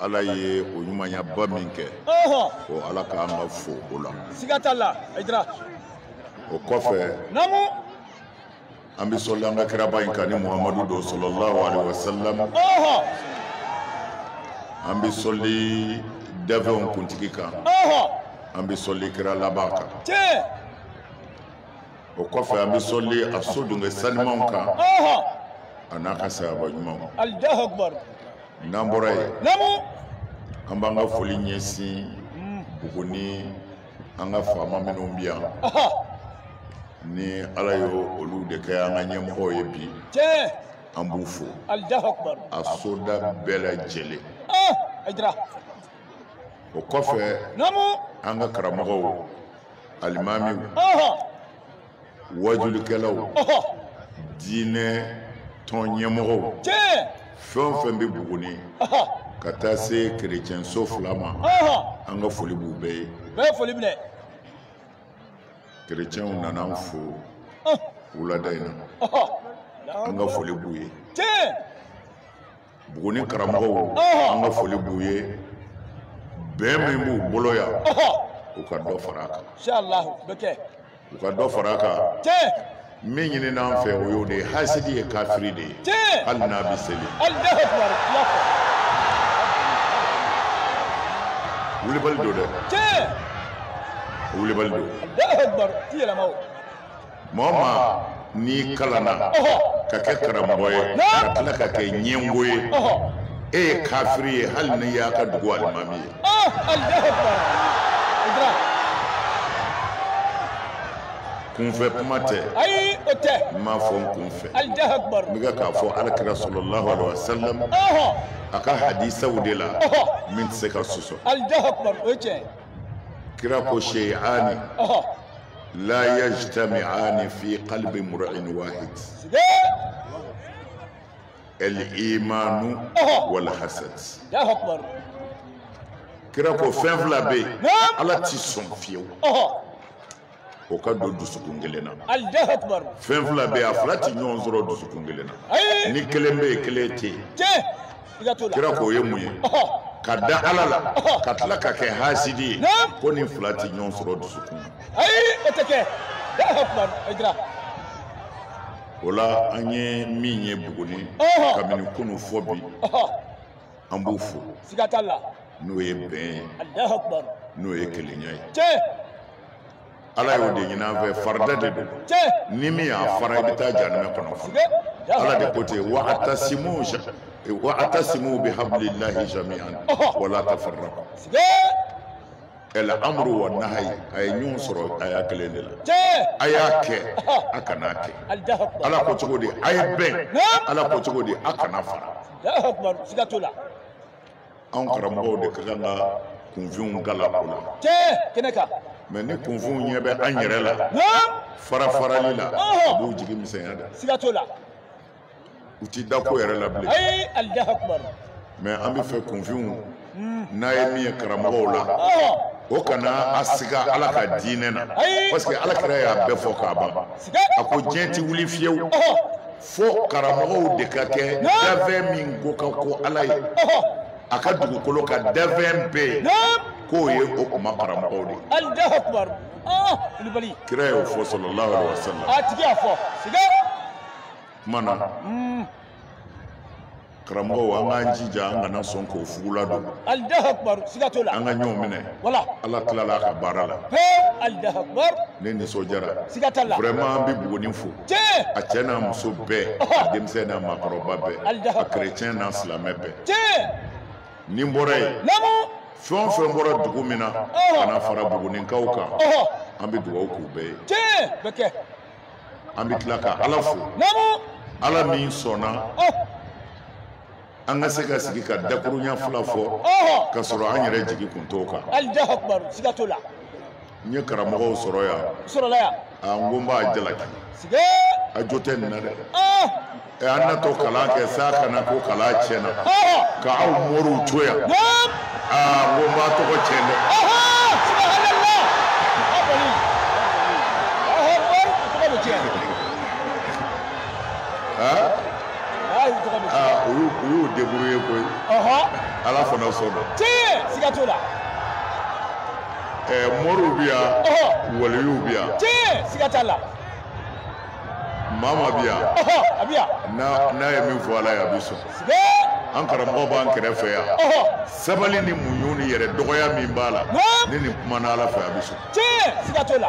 ala ye o ɲumanyaba min kɛ o ala ka kan ka fo o la siga t'a la ayidara o kɔfɛ namu an bɛ sɔli an ka kiraba in kan ni muhamadu don sallallahu alaihi wasallam an bɛ sɔli dafɛnw kuntigi kan an bɛ sɔli kira laban kan o kɔfɛ an bɛ sɔli a so dungɛ sanimanw kan a n'a ka sahaba ɲumanw n'an bɔra yen an b'an ka foli ɲɛsin buguni an ka faama minnu bɛ yan ni ala ye olu de kɛ an ka ɲɛmɔgɔw ye bi an b'u fo a soda bɛɛ lajɛlen o kɔfɛ an ka karamɔgɔw alimamiw ɔhɔ wajulikɛlaw ɔhɔ diinɛ tɔn ɲɛmɔgɔw tiɲɛ fɛn o fɛn bɛ buguni ɔhɔ ka taa se kerecɛnso fila ma ɔhɔ an ka foli b'u bɛɛ ye bɛɛ foli minɛ kerecɛnw nana an fo ɔhɔ wulada in na ɔhɔ an ka foli b'u ye tiɲɛ buguni karamɔgɔw an ka foli b'u ye bɛn min b'u bolo yan u ka dɔ fara a kan u ka dɔ fara a kan min ɲinina an fɛ o y'o de ye hasidi ye kafiri de ye hali n'a bɛ seli wulibali don dɛ wulibali don maa o maa n'i kalanna ka kɛ karamɔgɔ ye ka tila ka kɛ ɲɛngo ye e ye kafiri ye hali n'i y'a ka dugu alimami ye kunfɛ kuma tɛ ayi o tɛ n m'a fɔ n kunfɛ n bɛ ka k'a fɔ alakira sallallahu alaihi wasallam a ka hadisaw de la min tɛ se ka sɔsɔ kira ko shay'ani la yajtami'ani fi qalbi mur'in wahid al-imanu wal hasad Allahu akbar kira ko fɛn fila bɛ yen ala ti sɔn fiyewu o ka don dusukun kelen na fɛn fila bɛ yen a fila ti ɲɔgɔn sɔrɔ dusukun kelen na ni kelen bɛ yen kelen tɛ yen kira k'o ye mun ye ka da ala la ka tila ka kɛ hasidi ye ko nin fila tɛ ɲɔgɔn sɔrɔ dusukun na ayi o tɛ kɛ o la an ye min ye buguni kabini kunu fɔ bi an b'u fo n'o ye bɛn ye n'o ye kelenya ye ala y'o de ɲini an fɛ farida de don ni min y'a fara i bɛ taa jahanama kɔnɔ fana ala de ko ten wa atasimu bi hablillahi jami'an wala tafarraqu el amru wa nahayi a ye ɲɔgɔn sɔrɔ a y'a kelen de la a y'a kɛ a kana kɛ ala ko cogo di a ye bɛn ala ko cogo di a kana fara anw karamɔgɔw de ka kan ka kunfinw kala o la kɛnɛ kan mais ni kunfinw ɲɛ bɛ an yɛrɛ la farafarali la u b'u jigi misɛnya dɛ siga t'o la u ti da ko yɛrɛ la bilen mais an bɛ fɛ kunfinw hmm. n'a ye min ye karamɔgɔw la o kana a siga ala ka diinɛ na parce que ala kira y'a bɛɛ fɔ k'a ban a ko diɲɛ ti wuli fiyewu fo karamɔgɔw de ka kɛ danfɛn min ko ka go ala ye a ka dugukolo kan danfɛn bɛɛ ye k'o ye o kuma karamɔgɔw de ye kira y'o fɔ sallallahu alaihi wasallam a tigi y'a fɔ siga kuma na karamɔgɔw an k'an jija an kana sɔn k'o fugula don alahu akubaru siga t'o la an ka ɲɔgɔn minɛ wala ala tilala a ka baara la pewu alahu akubaru ne nisɔndiyara siga t'a la vraiment an bɛ buguni fo tiɲɛ a cɛ n'a muso bɛɛ a denmisɛn n'a maakɔrɔba bɛɛ alahu a kerecɛn n'a silamɛ bɛɛ tiɲɛ ni n bɔra yen naamu fɛn o fɛn bɔra dugu min na ka na fara buguninkaw kan ɔhɔ an bɛ dugawu k'u bɛɛ ye tiɲɛ bɛ kɛ an bɛ tila ka ala fo ala min sɔnna oh. an ka se ka sigi ka dakurunya fila fɔ oh. ka sɔrɔ an yɛrɛ jigi kun t'o kan n ye karamɔgɔw sɔrɔ yan a n ko n b'a jalaki a jo tɛ n na dɛ oh. eh, an natɔ kalan kɛ sa ka na ko kalan tiɲɛna ka aw moriw to yan aa ah, ko n b'a tɔgɔ tiɲɛ dɛ ah, u y'u débrouiller koyi ala fana sɔnna tiɲɛ siga t'o la eh, moriw bi yan waliyuw bi yan tiɲɛ siga t'a la mama bi yan ɔhɔ a bɛ yan n'a n'a ye min fɔ ala ye a bɛ sɔn ee an karamɔgɔ b'an kɛrɛfɛ yan ɔhɔ sabali ni muɲu ni yɛrɛ dɔgɔya min b'a la Naam. ni nin kumana ala fɛ a bɛ sɔn tiɲɛ siga t'o la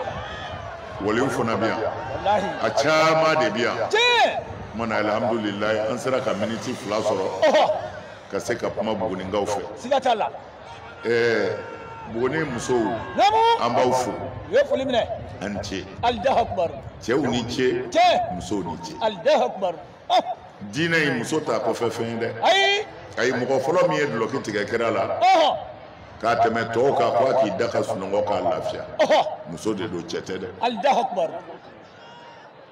waliyuw fana bɛ yan walahi a caman de bɛ yan tiɲɛ kuma na alihamudulilayi an sera ka miniti fila sɔrɔ ɔhɔ ka se ka kuma buguninkaw fɛ siga t'a la ɛɛ buguni musow an b'aw fo u ye foli minɛ a ni ce allahu akbar cɛw ni ce cɛ musow ni ce allahu akbar ah! diinɛ in muso t'a kɔfɛ fɛn ye dɛ ayi ayi mɔgɔ fɔlɔ min ye dulɔki tigɛ kira la k'a tɛmɛ tɔw kan ko a k'i da ka sunɔgɔ k'a lafiya muso de don cɛ tɛ dɛ allahu akbar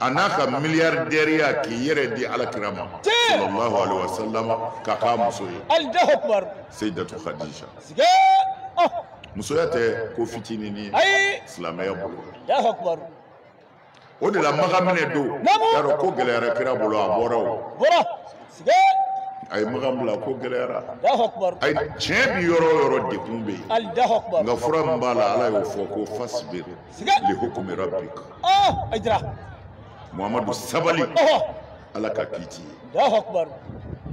a n'a ka miliyardɛriya k'i yɛrɛ di ala kira ma sallallahu alaihi wasallam ka k'a muso ye allahu akbar seyidatu khadija siga oh. musoya tɛ ko fitinin ye ayi silamɛya bolo allahu akbar o de la maka minɛ don y'a dɔn ko gɛlɛyara kira bolo a bɔra o bɔra siga a ye makan bila ko gɛlɛyara a ye tiɲɛ bi yɔrɔ o yɔrɔ degun bɛ yen nka fura min b'a la ala y'o fɔ ko fasbir li hukmi rabbika oh a jira muhammadu sabali oh ala ka kiiti ye allahu akbar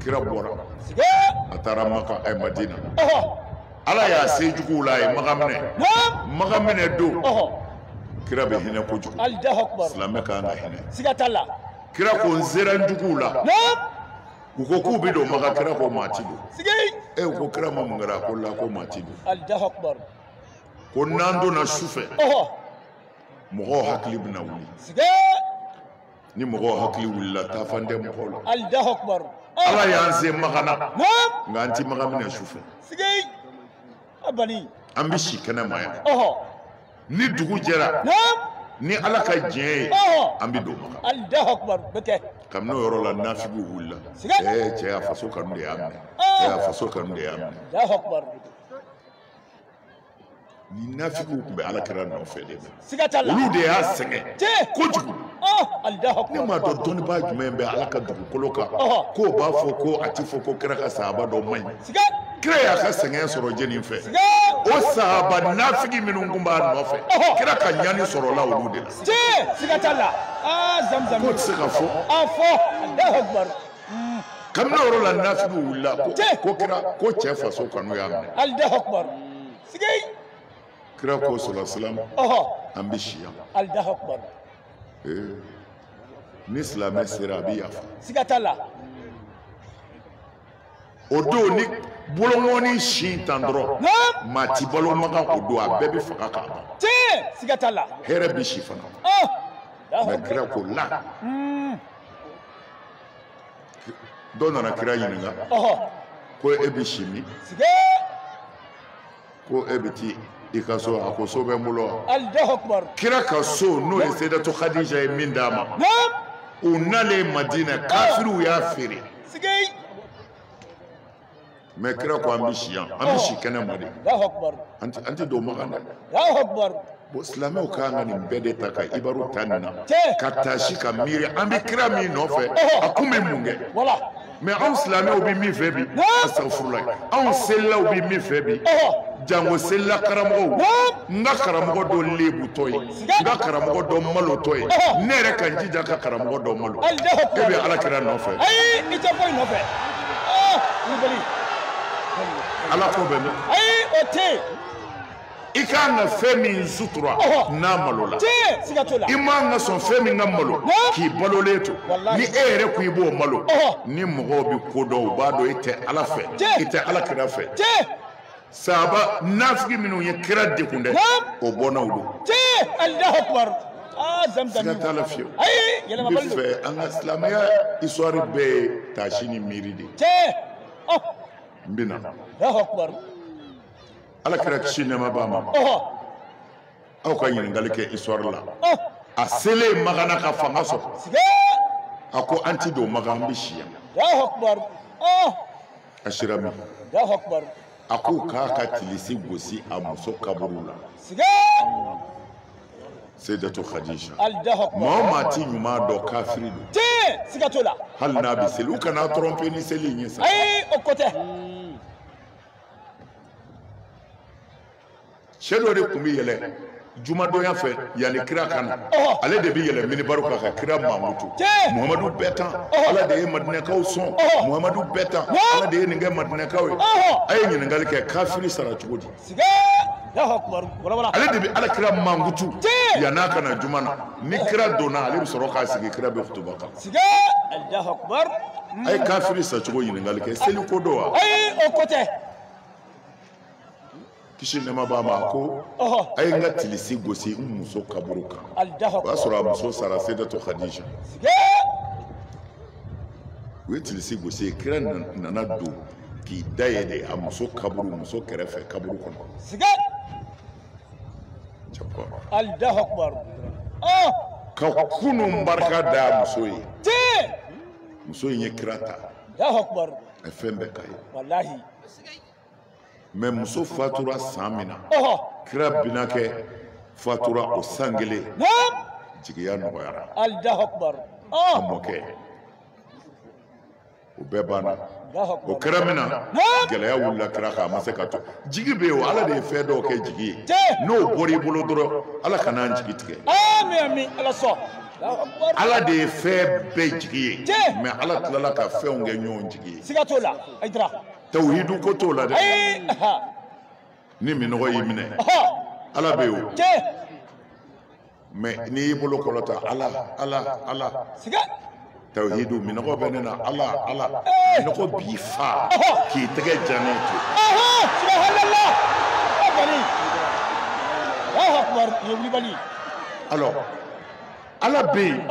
kira bɔra siga a taara maka ɛ madina oh ala y'a se juguw la a ye maka minɛ naam maka minɛ don oh kira bɛ hinɛ kojugu allahu akbar silamɛ ka kan ka hinɛ siga t'a la kira ko n sera n juguw la naam u ko k'u bɛ don maka kira ko maa ti don siga e u ko kira ma mun kɛra a ko la ko maa ti don allahu akbar ko n'an donna su fɛ mɔgɔw hakili bɛna wuli ni mɔgɔw hakili wulila taafan tɛ mɔgɔw la ala y'an se makan na nka an ti maka minɛ su fɛ an bɛ si kɛnɛ ma yan ni dugu jɛra ni ala ka diɲɛ ye an bɛ don maka kabini o yɔrɔ la nafigiw wulila ɛɛ cɛ y'a faso kanu de y'a minɛ cɛ y'a faso kanu de y'a minɛ ni nafigiw tun bɛ ala kira nɔfɛ de la olu de y'a sɛgɛn kojugu ne m'a dɔn dɔnnibaa jumɛn bɛ ala ka dugukolo kan k'o b'a fɔ ko a ti fɔ ko kira ka sahaba dɔ man ɲi kira y'a ka sɛgɛn sɔrɔ jɛni fɛ o sahaba nafigi minnu tun b'a nɔfɛ kira ka ɲani sɔrɔla olu de la k'o tɛ se ka fɔ kabini o yɔrɔ la nafigiw wulila ko ko kira ko cɛ faso kanu y'a minɛ allahu akbar siga kira ko sɔlasilam an bɛ si yan allahu akbar ni silamɛ sera a bɛ yafa siga t'a la o don n'i bolonkɔni sin tan dɔrɔn maa ti balo makan k'o don a bɛɛ bɛ faga k'a ban tiɲɛ siga t'a la hɛrɛ bɛ si fana mɛ kira ko la dɔ nana kira ɲininka ko e bɛ si min ko e bɛ t'i ka so a ko so bɛ n bolo wa kira ka so n'o ye seyidatu khadija ye min d'a ma u nalen madina kafiriw y'a feere mɛ kira ko an bɛ si yan an bɛ si kɛnɛma de an tɛ don makan dɛ bon silamɛw kan ka nin bɛɛ de ta ka ibaru ta nin na ka taasi ka miiri an bɛ kira min nɔfɛ a kun bɛ mun kɛ mɛ anw silamɛw bɛ min fɛ bi asafurulayi anw selilaw bɛ min fɛ bi jango selila karamɔgɔw n ka karamɔgɔ dɔ lebutɔ ye n ka karamɔgɔ dɔ malotɔ ye ne yɛrɛ ka n jija ka karamɔgɔ dɔ malo e bɛ ala kira nɔfɛ ayi i tɛ foyi nɔfɛ kulubali ah, ala ko bɛ min ayi o tɛ yen i ka kan ka fɛn min sutura n'a malola i man ka sɔn fɛn min ka malo k'i balolen to ni e yɛrɛ ko i b'o malo ni mɔgɔw bɛ ko dɔn u b'a dɔn i tɛ ala fɛ i tɛ ala kira fɛ sahaba nafigi minnu ye kira degun dɛ o bɔnnaw don tiɲɛ alahu akubar aa zamzam siga t'a la fiyewu ayi yɛlɛmabali don fɛ an ka silamɛya histoire bɛɛ ye taasi ni miiri de ye tiɲɛ ɔ n bɛ na alahu akubar ala kira kisi nɛɛma b'a ma ɔhɔ aw ka ɲininkali kɛ histoire la ɔ a selen maga na ka fanga sɔrɔ siga a ko an ti don maga an bɛ si yan alahu akubar ɔ a sira min a ko k'a ka tilisi gosi a muso kaburu la seydatu khadija maa o maa ti ɲuman dɔn kafiri don ten siga t'o la hali n'a bɛ seli u kana tromper ni seli in ye sa ayi o ko tɛ cɛ dɔ de tun bɛ yɛlɛ jumadonya fɛ yanni kira ka na ale de bɛ yɛlɛ minibaru kan ka kira mankutu muhamadu bɛ tan ala de ye madinɛkaw sɔn muhamadu bɛ tan ala de ye nin kɛ madinɛkaw ye a ye ɲininkali kɛ kafiri sara cogo di ale de bɛ ala kira mankutu yann'a ka na juma na ni kira donna ale bɛ sɔrɔ k'a sigi kira bɛ kutuba kan a ye kafiri sacogo ɲininkali kɛ seli ko don wa ayi o ko tɛ kisi nɛɛma b'a ma a ko a ye n ka tilisi gosi n muso kaburu kan o y'a sɔrɔ a muso sara seydatu khadija u ye tilisi gosi yen kira nana don k'i da yen de a muso kaburu muso kɛrɛfɛ kaburu kɔnɔ ka kunun barika da a muso ye muso in ye kira ta a ye fɛn bɛɛ k'a ye mɛ muso fatura san min na kira binakɛ fatura o san kelen jigiya nɔgɔyara a mɔkɛ o bɛɛ banna o kɛra min na gɛlɛya wulila kira kan a ma se ka to jigi bɛ yen o ala de ye fɛn dɔw kɛ jigi ye n'o bɔra i bolo dɔrɔn ala kana an jigi tigɛ ala de ye fɛn bɛɛ jigi ye mɛ ala tilala ka fɛnw kɛ ɲɔgɔn jigi ye tawuhidu ko t'o la dɛ ni minɔgɔ y'i minɛ ala bɛ yen o mais n'i y'i bolo kɔrɔta ala ala ala tawuhidu minɔgɔ bɛ ne na ala ala minɔgɔ b'i fa k'i tɛgɛ jalen to. alors ala bɛ yen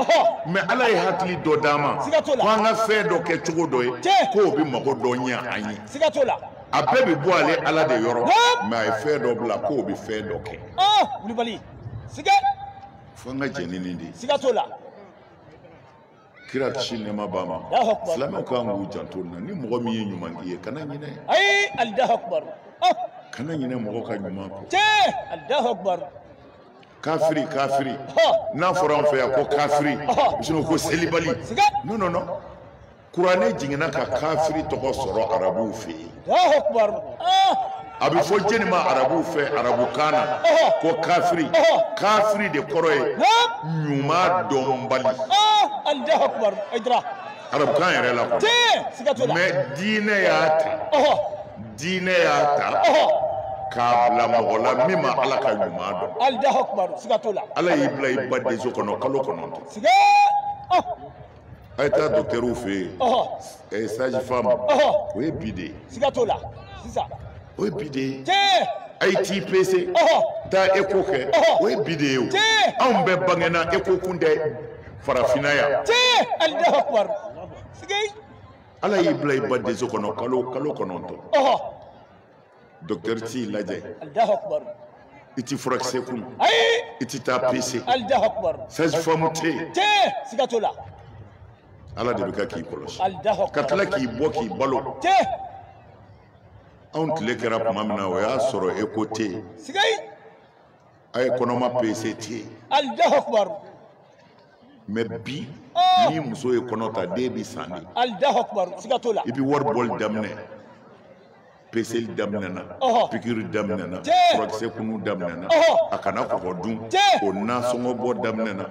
mais ala ye hakili dɔ d'an ma ko an ka fɛn dɔ kɛ cogo dɔ ye k'o bɛ mago dɔ ɲɛ an ye a bɛɛ bɛ bɔ ale ala de yɔrɔ mais a ye fɛn dɔ bila k'o bɛ fɛn dɔ kɛ fo an ka jɛn ni nin de ye kira kisi nɛɛma b'a ma silamɛw kan k'u janto nin na ni mɔgɔ min ye ɲuman k'i ye kana ɲinɛ kana ɲinɛ mɔgɔ ka ɲuman kɔ kafiri kafiri n'a fɔra an fɛ yan ko kafiri sinon ko selibali non non non kuranɛ jiginna ka kafiri tɔgɔ sɔrɔ arabuw fɛ yen a bɛ fɔ jɛni ma arabuw fɛ arabukan na ko kafiri kafiri de kɔrɔ ye ɲuman dɔnbali arabukan yɛrɛ la quoi tiɲɛ siga t'o la mais diinɛ y'a ta ɔhɔ diinɛ y'a ta ɔhɔ k'a bila mɔgɔ la min ma ala ka ɲuman dɔn alahu akubaru siga t'o la ala y'i bila i ba denso kɔnɔ kalo kɔnɔntɔn siga ɔ a ye taa dɔkitɛriw fɛ yen ɔhɔ eh, sage femme ɔhɔ o ye bi de ye siga t'o la sisan o ye bi de ye tiɲɛ a ye t'i pese ɔhɔ taa eko kɛ Ɔhɔ. o ye bi de ye o Tiɲɛ. anw bɛɛ bangena eko kun tɛ farafinna yan tiɲɛ alahu akubaru sigei ala y'i bila i ba denso kɔnɔ kalo kalo kɔnɔntɔn ɔhɔ dɔkitɛri t'i lajɛ alahu akubaru i ti furakisɛ kunu ayi i ti taa pese alahu akubaru sage femme tɛ yen tiɲɛ siga t'o la ala de bɛ ka k'i kɔlɔsi alahu ka akubaru tila k'i bɔ k'i balo tiɲɛ anw tile kɛra tuma min na o y'a sɔrɔ eko tɛ yen sigei a ye kɔnɔma pese tɛ alahu akubaru mais bi oh! ni muso ye kɔnɔ ta den bi san de alahu akubaru siga t'o la i bi wari bɔli daminɛ peseli daminɛna pikiri daminɛna furakisɛ kunu daminɛna a kana kɔgɔ dun o nasɔngɔ bɔ daminɛna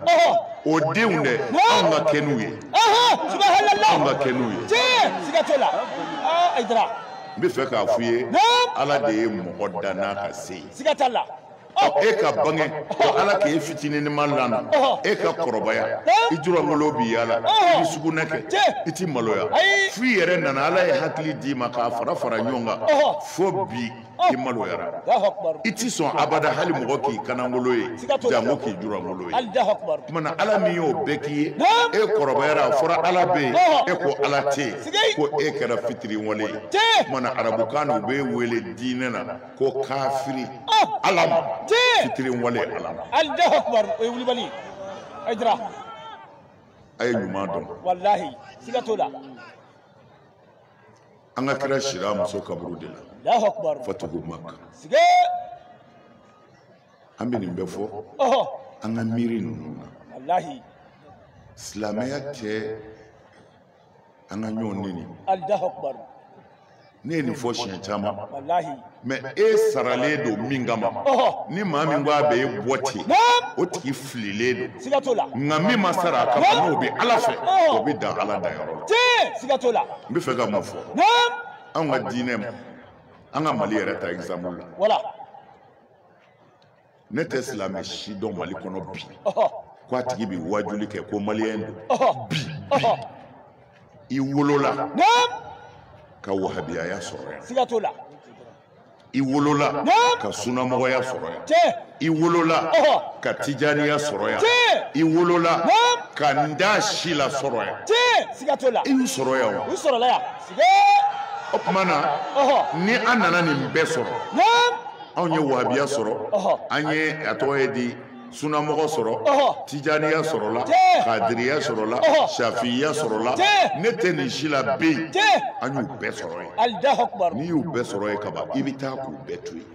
o denw dɛ anw ka kɛnɛ n'u ye anw ka kɛnɛ n'u ye n bɛ fɛ k'a f'u ye ala de ye mɔgɔ danna ka se yen siga t'a la e ka bange ko ala k'e fitininima lana e ka kɔrɔbaya i jurangolo b'i yala i bɛ sugunɛ kɛ i ti maloya fo i yɛrɛ nana ala ye hakili d'i ma k'a fara fara ɲɔgɔn kan fo bi i maloyara i ti sɔn abada hali mɔgɔ k'i kanangolo ye janko k'i jurangolo ye kumana ala min y'o bɛɛ k'i ye e kɔrɔbayara a fɔra ala bɛ yen e ko ala tɛ yen ko e kɛra fitiriwale ye kumana arabukan na u b'e wele diinɛ na ko kafiri ala ma fitiri wale ala ma alahu akubaru o ye wulibali ye a jira a ye ɲuman dɔn walahi siga t'o la an ka kira sira muso kaburu de la alahu akubaru fatuhu maka siga an bɛ nin bɛɛ fɔ ɔhɔ an ka miiri ninnu na walahi silamɛya tɛ an ka ɲɔgɔn neni ne ye nin fɔ siɲɛ caman mɛ e saralen don min kama ni maa min ko a bɛ e bɔ ten o tigi fililen don nka min ma sara a kama n'o bɛ ala fɛ o bɛ dan ala danyɔrɔ la n bɛ fɛ ka mun fɔ anw ka diinɛ ma an ka mali yɛrɛ ta exemple la ne tɛ silamɛ si dɔn mali kɔnɔ bi ko a tigi bɛ wajuli kɛ ko maliyɛn don bi i wolola ka wahabiyaya sɔrɔ yan siga t'o la i wolola ka sunamɔgɔya sɔrɔ yan i wolola ka tijaniya sɔrɔ yan i wolola ka n t'a si la sɔrɔ yan siga t'o la i y'u sɔrɔ yan wa u sɔrɔla yan o tuma na ni an nana nin bɛɛ sɔrɔ anw ye wahabiya sɔrɔ an ye a tɔgɔ ye di sunamɔgɔ sɔrɔ tijaniya sɔrɔla kadiriya sɔrɔla shafiya sɔrɔla ne tɛ nin si la bɛ yen an y'u bɛɛ sɔrɔ yen n'i y'u bɛɛ sɔrɔ yen kaban i bɛ taa k'u bɛɛ to yen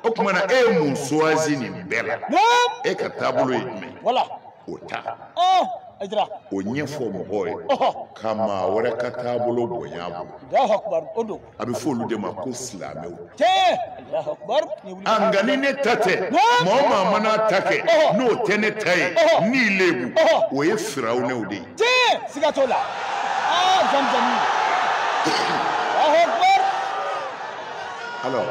o tuma na e ye mun choisi nin bɛɛ la e ka taabolo ye jumɛn o ta o ɲɛfɔ mɔgɔw ye ka maa wɛrɛ ka taabolo bonya bolo a bɛ fɔ olu de ma ko silamɛw a nka ni ne ta tɛ maa o maa mana ta kɛ n'o tɛ ne ta ye n'i lebu o ye firawunɛw de ye siga t'o la ah, jamujamu alors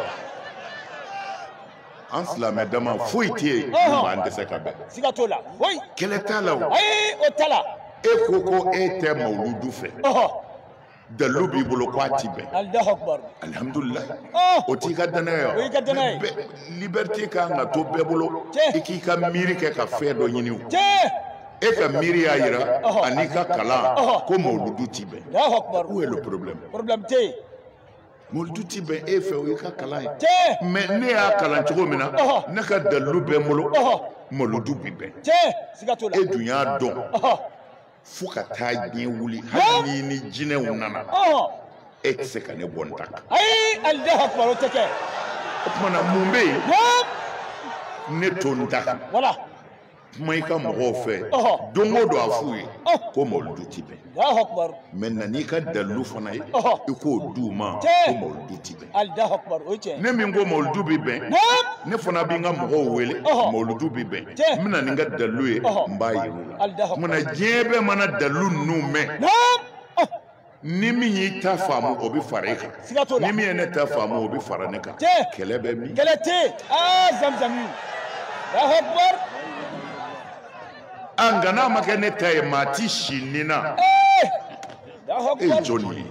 an silamɛ dama foyi tɛ yen min b'an dɛsɛ ka bɛn siga t'o la kɛlɛ t'a la o ayi o t'a la e ko ko e tɛ mawuludu fɛ dalilu b'i bolo ko a ti bɛn alihamudulila o t'i ka danaya o y'i ka danaya ye liberté kan ka to bɛɛ bolo i k'i ka miiri kɛ ka fɛn dɔ ɲini o e ka miiri y'a yira an'i ka kalan ko mawuludu ti bɛn où est le problème problème tɛ yen mawuludu ti bɛn e fɛ o y'i ka kalan ye mais ne y'a kalan cogo min na ne ka dalilu bɛ n bolo mawuludu bi bɛn e dun y'a dɔn fo ka taa diɲɛ wuli hali ni ni jinɛw nana e tɛ se ka ne bɔ n ta kan. ayi alahu akubar o tɛ kɛ. o tuma na mun bɛ yen. ne to n ta kan. wala. kuma i ka mɔgɔw fɛ don o don a f'u ye ko mawuludu ti bɛn mais na n'i ka dalilu fana ye i k'o d'u ma ko mawuludu ti bɛn ne min ko mawuludu bɛ bɛn ne fana bɛ n ka mɔgɔw wele mawuludu bɛ bɛn n bɛ na ni n ka dalilu ye n b'a yir'u la o tuma na diɲɛ bɛɛ mana dalilu ninnu mɛn ni min y'i ta faamu o bɛ fara e kan ni min ye ne ta faamu o bɛ fara ne kan kɛlɛ bɛ min kɛlɛ tɛ yen aa zamzami alahu akubar nka n'a ma kɛ ne ta ye maa ti si nin na e ye jɔn ye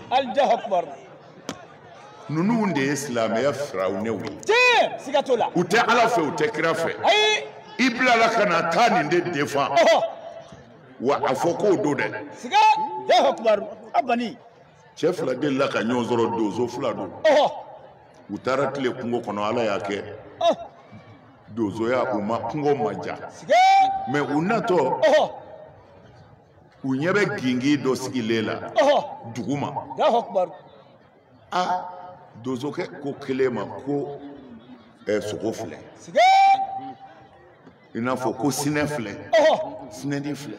ninnu de ye silamɛya firawunɛw ye tiɲɛ siga t'o la u tɛ ala fɛ u tɛ kira fɛ ayi i bilala ka na taa nin de défend ɔhɔ wa a fɔ k'o don dɛ siga alahu akubaru a bani cɛ fila delila ka ɲɔgɔn sɔrɔ donso fila don ɔhɔ u taara tile kungo kɔnɔ ala y'a kɛ ɔhɔ donsoya u ma kungo ma diya siga mais u natɔ ɔhɔ u ɲɛ bɛ gingin dɔ sigilen la duguma a donsokɛ ko kelen ma ko eh, sogo filɛ i n'a fɔ ko sinɛ filɛ sinɛni filɛ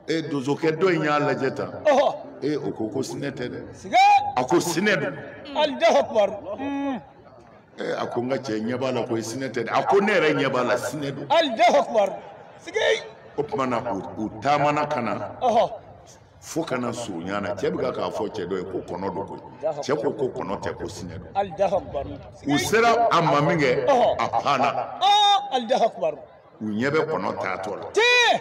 e eh, donsokɛ dɔ in y'a lajɛ tan e o ko ko sinɛ tɛ dɛ a ko sinɛ don Eh, a ko n ka cɛ ɲɛ b'a la koyi sinɛ tɛ dɛ a ko ne yɛrɛ ɲɛ b'a la sinɛ don alahu akubaru siga o tuma na u u taamana ka na ɔhɔ fo ka na surunya na cɛ bɛ ka k'a fɔ cɛ dɔ ye ko kɔnɔ don koyi cɛ ko ko kɔnɔ tɛ ko sinɛ don alahu akubaru siga u sera a ma min kɛ a panna ɔ alahu akubaru u ɲɛ bɛ kɔnɔ taatɔ la tee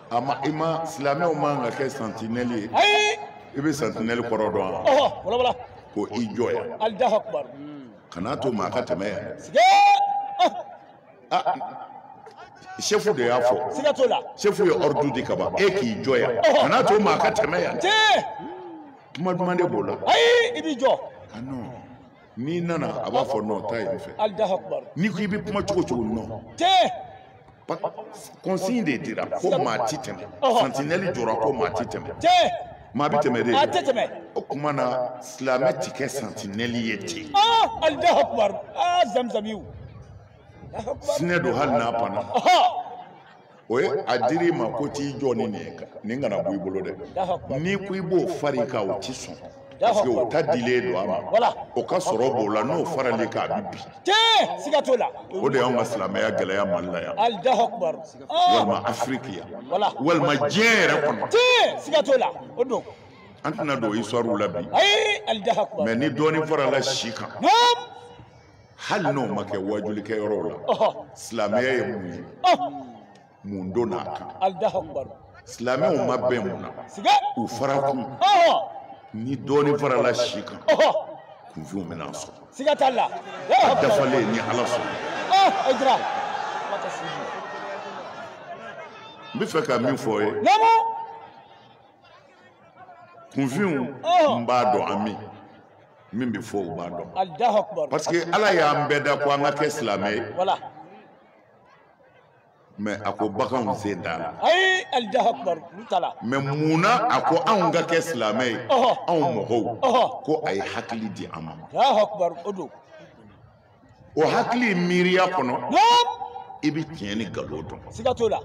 a ma i ma silamɛw man kan ka kɛ sentinelle ye ayi i bɛ sentinelle kɔrɔ dɔn wa ɔhɔ walawala ko i jɔ yan alahu akubar kana to maa ka tɛmɛ yan siga ah chef de y'a fɔ siga t'o la chef ye ordre di ka ban e k'i jɔ yan kana to maa ka tɛmɛ yan tiɲɛ kuma duman de b'o la ayi i b'i jɔ ah non n'i nana a b'a fɔ non taa yen fɛ n'i ko i bɛ kuma cogo cogo non consigne de dira ko maa ti tɛmɛ santinɛli jɔra ko maa ti tɛmɛ maa bɛ tɛmɛ de a tɛ tɛmɛ o kuma na silamɛ ti kɛ santinɛli ye ten tiɲɛ don hali n'a panna o ye a dir'i ma ko t'i jɔ ni nin ye nin kana bɔ i bolo dɛ n'i ko i b'o far'i kan o ti sɔn parce que o ta dilen don a ma o ka sɔrɔ b'o la n'o faral'i kan a bi bin siga t'o la o de y'anw ka silamɛya gɛlɛya mali la yan walima afiriki yan walima diɲɛ yɛrɛ kɔnɔ siga t'o la o don an tɛna don histoire la bi mais ni dɔɔnin farala si kan hali n'o ma kɛ wajulikɛ yɔrɔw la silamɛya ye mun ye mun donn'a kan silamɛw ma bɛn mun na u fara kun ni dɔɔnin farala si kan kunfinw bɛn'a sɔrɔ siga t'a la a dafalen ni ala sɔnna n bɛ fɛ ka min fɔ ye kunfinw n b'a dɔn an min min bɛ fɔ u b'a dɔn Allahu akbar parce que Ala y'an bɛɛ da ko an ka kɛ silamɛ ye voilà mais a ko baganw sen t'a la ayi Allahu akbar olu t'a la mais mun na a ko anw ka kɛ silamɛ ye Ɔhɔ. anw mɔgɔw Ɔhɔ. ko a ye hakili di an ma Allahu akbar o don o hakili miiriya kɔnɔ Naam, i bɛ tiɲɛ ni nkalon dɔn siga t'o la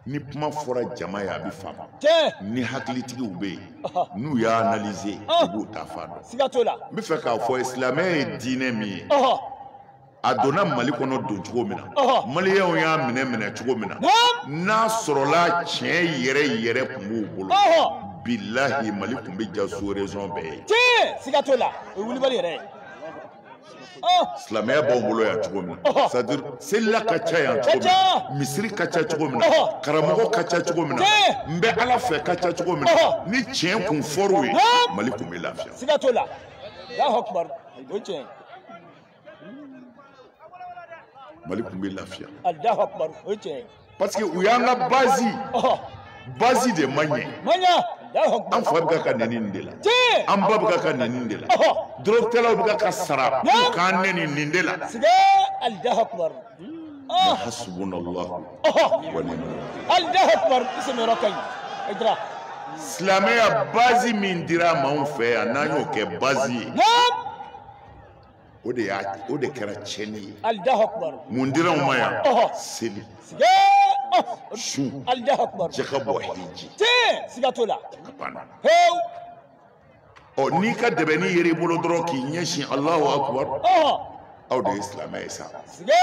ni kuma fɔra jama ye a bɛ faamu ni hakilitigiw bɛ yen n'u y'a analyser u b'u taa fan dɔn siga t'o la n bɛ fɛ k'a fɔ silamɛya ye diinɛ min ye a donna mali kɔnɔ don cogo min na maliyɛnw y'a minɛ minɛ cogo min na n'a sɔrɔla tiɲɛ yɛrɛ yɛrɛ kun b'u bolo bilahi mali kun bɛ ja sous-région bɛɛ ye tiɲɛ siga t'o la o ye wulibali yɛrɛ ye silamɛya b'anw bolo yan cogo min na c'est à dire selila ka ca yan cogo min na misiri ka ca cogo min na karamɔgɔ ka ca cogo min na n bɛ ala fɛ ka ca cogo min na ni tiɲɛ kun fɔr'u ye mali kun bɛ lafiya. siga t'o la Allahu akbar o ye tiɲɛ mali kun bɛ lafiya. Allahu akbar o ye tiɲɛ parce que u y'an ka bazi bazi de man ɲɛ an fa bɛ ka ka nɛni nin de la an ba bɛ ka ka nɛni nin de la dɔrɔgutalaw bɛ ka ka sara u k'an nɛni nin de la hasbuna allahu wa ni'mal wakil silamɛya bazi min dira maaw fɛ yan n'an y'o kɛ bazi ye o de y'a o de kɛra tiɲɛni ye alahu akubaru mun dira aw ma yan ɔhɔ seli sigee ɔh sun alahu akubaru jaka bɔ hiji tee siga t'o la a banna hewu ɔ n'i ka dɛbɛnnin yeri i bolo dɔrɔn k'i ɲɛsin alahu akubaru ɔhɔ aw de ye silamɛ ye sa sigee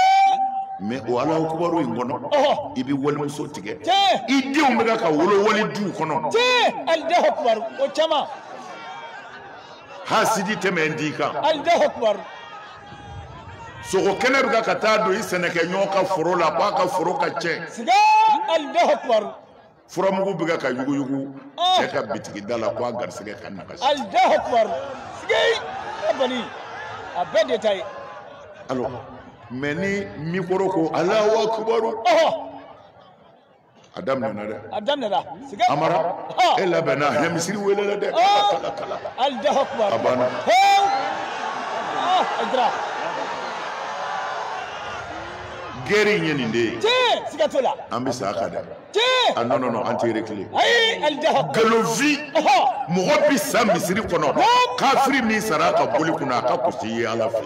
mɛ o alahu akubaru in kɔnɔ ɔhɔ i bɛ walimuso tigɛ tee i denw bɛ ka ka wolo wali duw kɔnɔ tee alahu akubaru o caman hasidi tɛmɛn d'i kan alahu akbar sogo kɛnɛ bɛ ka taa don i sɛnɛkɛɲɔgɔn ka foro la k'a ka foro ka tiɲɛ siga alahu akbar furamugu bɛ ka yuguyugu ah. cɛ ka bitigi da la k'a garisɛgɛ ka nagasi alahu akbar siga a bali a bɛɛ de ta ye alo mɛ ni mikoro ko alahu akbar a daminɛna dɛ a daminɛna siga amara e labɛnna hɛ misiri welela dɛ kala kala alahu akubar a banna a jira gɛri in ye nin de ye tiɲɛ siga t'o la an bɛ sa a kan dɛ tiɲɛ a nɔn nɔn nɔn an tɛ rekile ayi alahu akubar galofi mɔgɔ bɛ sa misiri kɔnɔ kafiri min sara a ka boli kunna a ka kus'i ye ala fɛ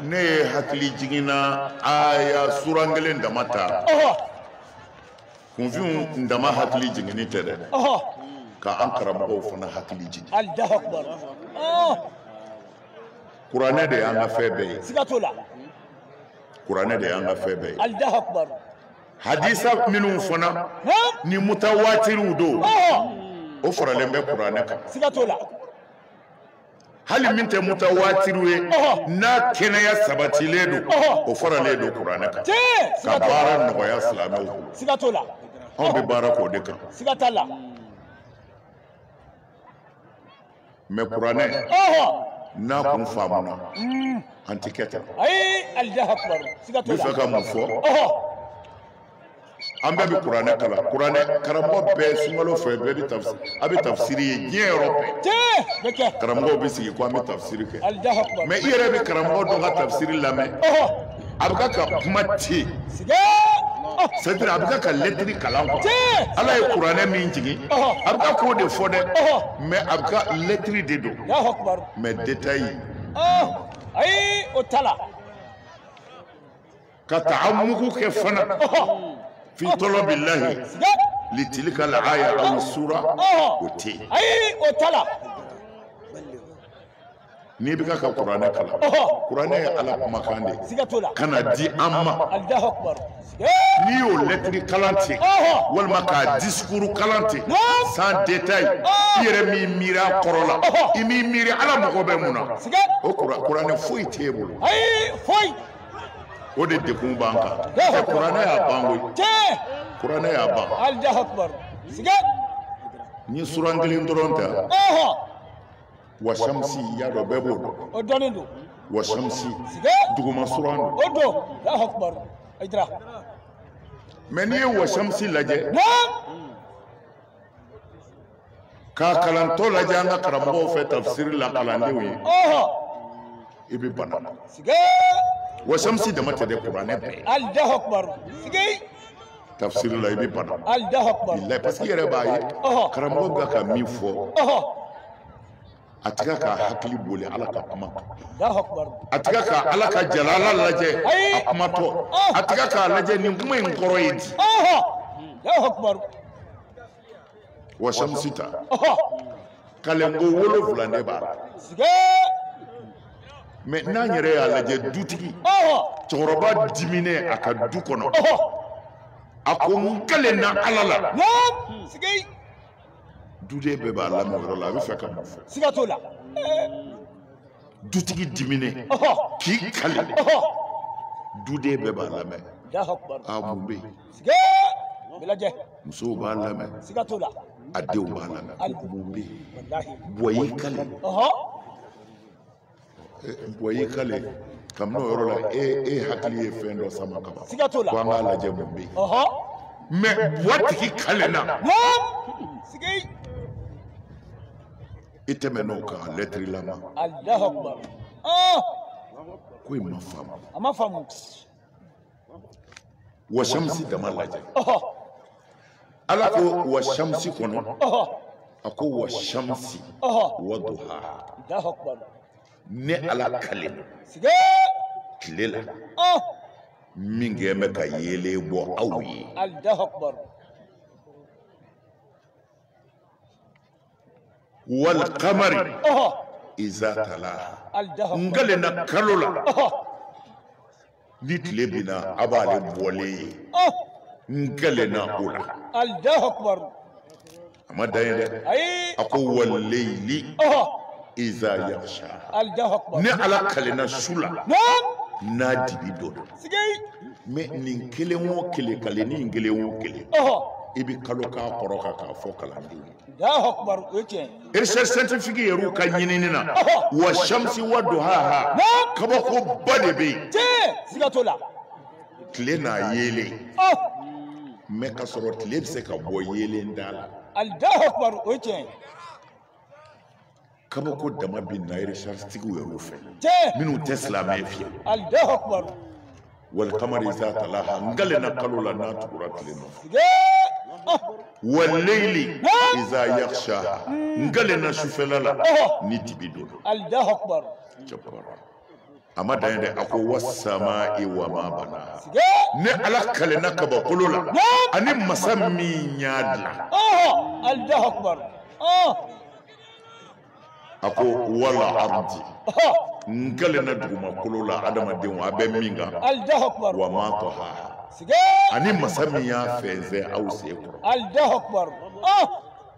ne ye hakili jiginna aya suran kelen dama ta kunfinw dama hakili jiginni tɛ dɛ ka an karamɔgɔw fana hakili jigin kuranɛ de y'an ka fɛn bɛɛ ye kuranɛ de y'an ka fɛn bɛɛ ye hadisa minnu fana ni mutawaatiriw don o faralen bɛ kuranɛ kan hali min tɛ mutawaatiriw ye n'a kɛnɛya sabatilen don o faralen don kuranɛ kan ka baara nɔgɔya silamɛw bolo siga t'o la anw bɛ baara k'o de kan siga t'a la mɛ kuranɛ n'a kun faamuna mm. an tɛ kɛ tan ayi alahu akbar siga t'o la n bɛ fɛ ka mun fɔ an bɛɛ bɛ kuranɛ kalan kuranɛ karamɔgɔ bɛɛ sunkalo fɛ bɛɛ bɛ tafsiri a bɛ tafsiri ye diɲɛ yɔrɔ bɛɛ karamɔgɔw bɛ sigi ko an bɛ tafsiri kɛ mɛ i yɛrɛ bɛ karamɔgɔ dɔ ka tafsiri lamɛn a bɛ ka ka kuma ten c'est-à-dire a bɛ ka ka lɛtiri kalan kuwa ala ye kuranɛ min jigin a bɛ ka k'o de fɔ dɛ mɛ a bɛ ka lɛtiri de don mɛ detayi ayi o t'a la ka ta'ammuku kɛ fana fi talabi lahi litilika al-aya aw sura o tɛ yen ayi o t'a la n'i bɛ ka ka kuranɛ kalan kuranɛ ye ala kumakan de ye ka n'a di an ma n'i y'o lɛtiri kalan ten walima k'a disikuru kalan ten sans détail i yɛrɛ m'i miiri a kɔrɔ la i m'i miiri ala mago bɛ mun na o kuranɛ foyi t'e bolo o de degun b'an kan kuranɛ y'a ban koyi kuranɛ y'a ban n'i ye suran kelen dɔrɔn ta wa shamsi i y'a dɔn bɛɛ b'o dɔn o dɔnnen don wa shamsi duguma suran don o don alahu akubar ayi dira mais n'i ye wa shamsi lajɛ k'a kalantɔ lajɛ an ka karamɔgɔw fɛ tafsiri la kalandenw ye i bɛ bana na wa shamsi dama tɛ dɛ kuranɛ bɛɛ ye tafsiri la i bɛ bana bilayi parce que i yɛrɛ b'a ye karamɔgɔ bɛ ka min fɔ a tɛ ka ka hakili boli ala ka kuma kan a tɛ ka ka ala ka jalala lajɛ a kumatɔ a tɛ ka k'a lajɛ nin kuma in kɔrɔ ye di wa shamsi ta kalenko wolonwula de b'a la mais n'an yɛrɛ y'a lajɛ dutigi cɛkɔrɔba diminen a ka du kɔnɔ a ko n kalenna ala la duden bɛɛ b'a lamɛn yɔrɔ la a bɛ fɛ ka mun fɔ siga t'o la dutigi diminen k'i kali duden bɛɛ b'a lamɛn a mun bɛ yen musow b'a lamɛn siga t'o la a denw b'a lamɛn mun bɛ yen bua y'i kali bua y'i kale kabini o yɔrɔ la e e hakili ye fɛn dɔ sama ka ban siga t'o la ko an k'a lajɛ mun bɛ yen ɔhɔ mais matigi kalenna naam sigi i tɛmɛn'o kan lɛtirilama alahu akubar ɔɔ ko i m'a faamu a m'a faamu wa shamsi dama lajɛ ala ko wa shamsi kɔnɔ a ko wa shamsi wa duha ne ala kalen don tile la min kɛnɛ bɛ ka yeelen bɔ aw ye wal qamari iza talaha n kalenna kalo la ni tile binna a b'ale bɔlen ye n kalenna o la a ma dan ye dɛ a ko wal leili iza yaghshaha ne ala kalenna su la n'a dibi donna mais nin kelen o kelen kale nin kelen o kelen i bɛ kalo k'a kɔrɔ kan k'a fɔ kalandenw recherche scientifique yɛrɛ ka ɲinini na wa shamsi wa duhaha kabako ba de bɛ yen tile n'a yeelen mais ka sɔrɔ tile bɛ se ka bɔ yeelen t'a la kabako dama bɛ na recherche tigiw yɛrɛw fɛ minnu tɛ silamɛ fiye wal qamari iza talaha n kalenna kalo la n'a tugura tile nɔ wal leili iza yaghshaha n kalenna sufɛla la ni dibi donna a ma dan ye dɛ a ko wasama'i wa ma banaha ne ala kalenna kabakolo la ani masa min y'a dilan a ko wal ardi n kalenna dugumakolo la adamadenw a bɛ min kan wa ma tahaha ani masa min y'a fɛnsɛn aw sen kɔrɔ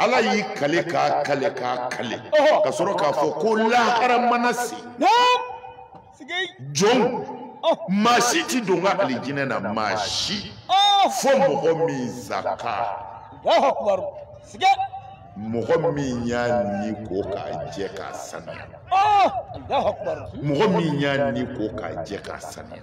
ala y'i kale k'a kale k'a kale ka sɔrɔ k'a fɔ ko lahara mana se jɔn maa si ti don ka alijinɛ na maa si fo mɔgɔ min zaka mɔgɔ min y'a ni ko k'a jɛ k'a sanuya mɔgɔ min y'a ni ko k'a jɛ k'a sanuya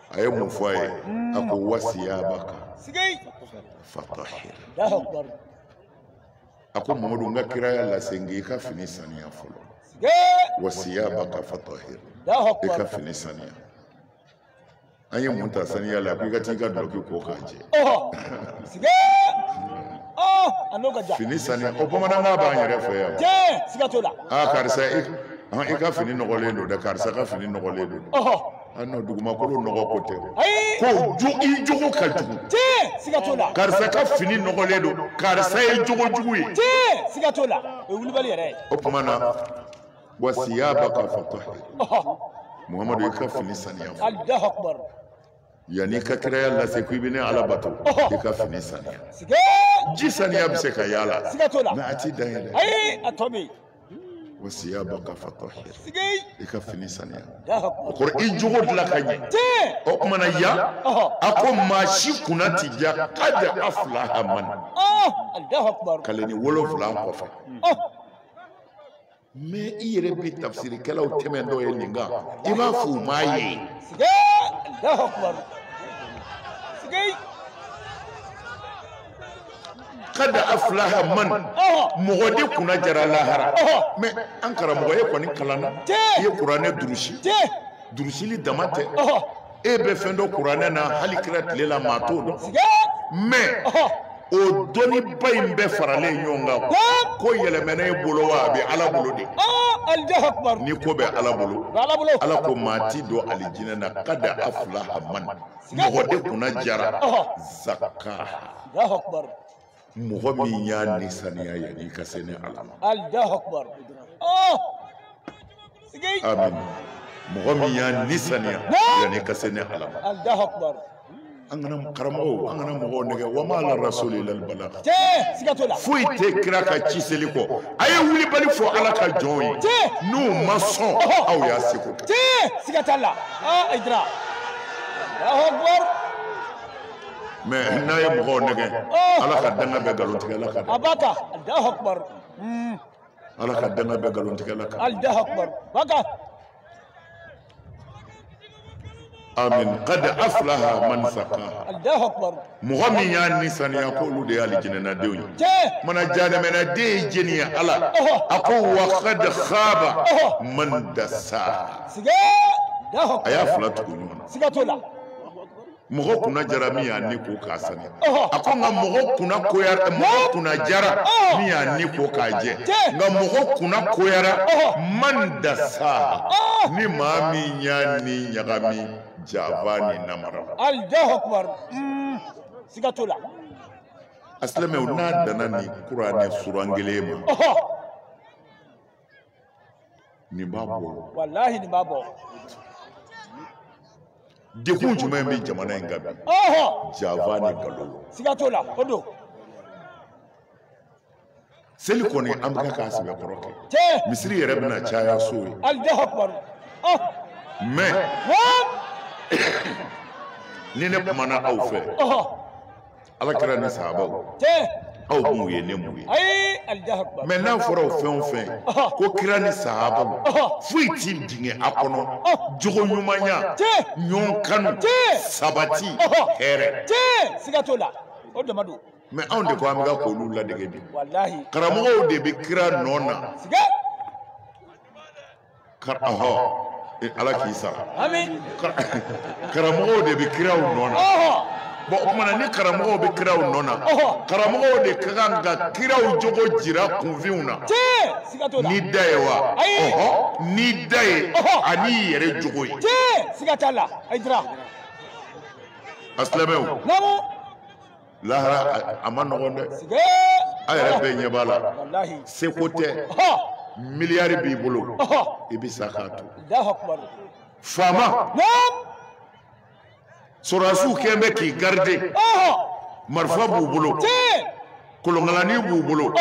a ye mun fɔ a ye a ko wasiyabaka fatahir a ko mamadu n ka kiraya lase n k'i ka fini saniya fɔlɔ wasiyabaka fatahir i ka fini saniya an ye mun ta saniya la ko i ka t'i ka dɔlɔki ko k'a jɛ fini saniya o bamanankan b'an yɛrɛ fɛ yan a karisa i ka fini nɔgɔlen don dɛ karisa ka fini nɔgɔlen don n'o dugumakolo nɔgɔ ko tɛ ko i jogo ka jugu siga t'o la karisa ka fini nɔgɔlen don karisa ye jogo jugu ye siga t'o la o ye wulibali yɛrɛ ye o tuma na wasiyabaka fatahir muhamadu i ka fini saniya fɔlɔ yanni i ka kiraya lase ko i bɛ ne ala bato i ka fini saniya ji saniya bɛ se ka y'a la mais a ti dan ye dɛ wa siyabaka fatahir i ka fini saniya o kɔrɔ i jogo dilan ka ɲɛ o tuma na yan a ko maa si kunna ti ja kada aflaha man kaleni wolonfila kɔfɛ mɛ i yɛrɛ bɛ tafsirikɛlaw tɛmɛntɔ ye nin kan i b'a fɔ u m'a ye. kada aflaha man mɔgɔ de kunna jara lahara mɛ an karamɔgɔ e kɔni kalanna i ye kuranɛ durusi durusili dama tɛ e bɛ fɛn dɔn kuranɛ na hali kira tile la maa t'o dɔn mɛ o dɔnniba in bɛɛ faralen ɲɔgɔn kan ko yɛlɛmɛna e bolo wa a bɛ ala bolo de ni ko bɛ ala bolo ala ko maa ti don alijinɛ na kada aflaha man mɔgɔ de kunna jara zakaha mɔgɔ min y'a ni saniya yanni ka se ni ala ma amin mɔgɔ min y'a ni saniya yanni ka se ni ala ma an kana karamɔgɔw an kana mɔgɔw nɛgɛ wa ma ala rasuli ilal bala foyi tɛ kira ka ci seli kɔ a ye wulibali fɔ ala ka jɔnw ye n'u ma sɔn aw y'a seko kɛ siga t'a la ayidara mɛ n'a ye mɔgɔw nɛgɛ ala ka danga bɛ nkalontigɛla kan ala ka danga bɛ nkalontigɛla kan amin qad aflaha man sakaha mɔgɔ min y'a ni saniya ko olu de y'alijinɛnadenw ye mana jahanamanaden ye jɛni ye ala a ko wa kad khaba man dasaha a y'a fila tugu ɲɔgɔn na mɔgɔ kunna jara min y'a ni ko k'a saniya a ko nka mɔgɔ kunna koyara mɔgɔ kunna jara min y'a ni ko k'a jɛ nka mɔgɔ kunna koyara man dasaha ni maa min y'a ni ɲagami jaba ni namara allahu akbar mm, siga t'o la a silamɛw n'a danna nin kuranɛ suran kelen ma ɔhɔ nin b'a bɔ walahi nin b'a bɔ degun jumɛn bɛ jamana in kan bi ɔhɔ jaba ni nkalon siga t'o la o don seli kɔni an bɛ k'a sɛbɛkɔrɔ kɛ misiri yɛrɛ bɛna caya so ye oh. mɛ ni ne kumana aw fɛ oh. ala kira ni sahabaw aw m'u ye ne m'u ye mɛ n'a fɔra o fɛn o fɛn oh. ko kira ni sahabaw foyi ti jigin a kɔnɔ jogo ɲumanya ɲɔgɔn kanu sabati hɛrɛ siga t'o la o dama don mɛ anw de ko an bɛ ka k'olu ladege bi karamɔgɔw de bɛ kira nɔ na ɔhɔ e, ala k'i sara karamɔgɔw de bɛ kiraw nɔ na bɔn o tuma na ni karamɔgɔw bɛ kiraw nɔ na karamɔgɔw de ka kan ka kiraw jogo jira kunfinw na n'i da ye wa ɔhɔ n'i da ye an'i yɛrɛ jogo ye a silamɛw lahara a man nɔgɔn dɛ a yɛrɛ bɛɛ ɲɛ b'a la seko tɛ miliyari b'i bolo i bɛ sa k'a to faama sɔrɔdasiw kɛmɛ bɛ k'i garide marifa b'u bolo kolonkalani b'u bolo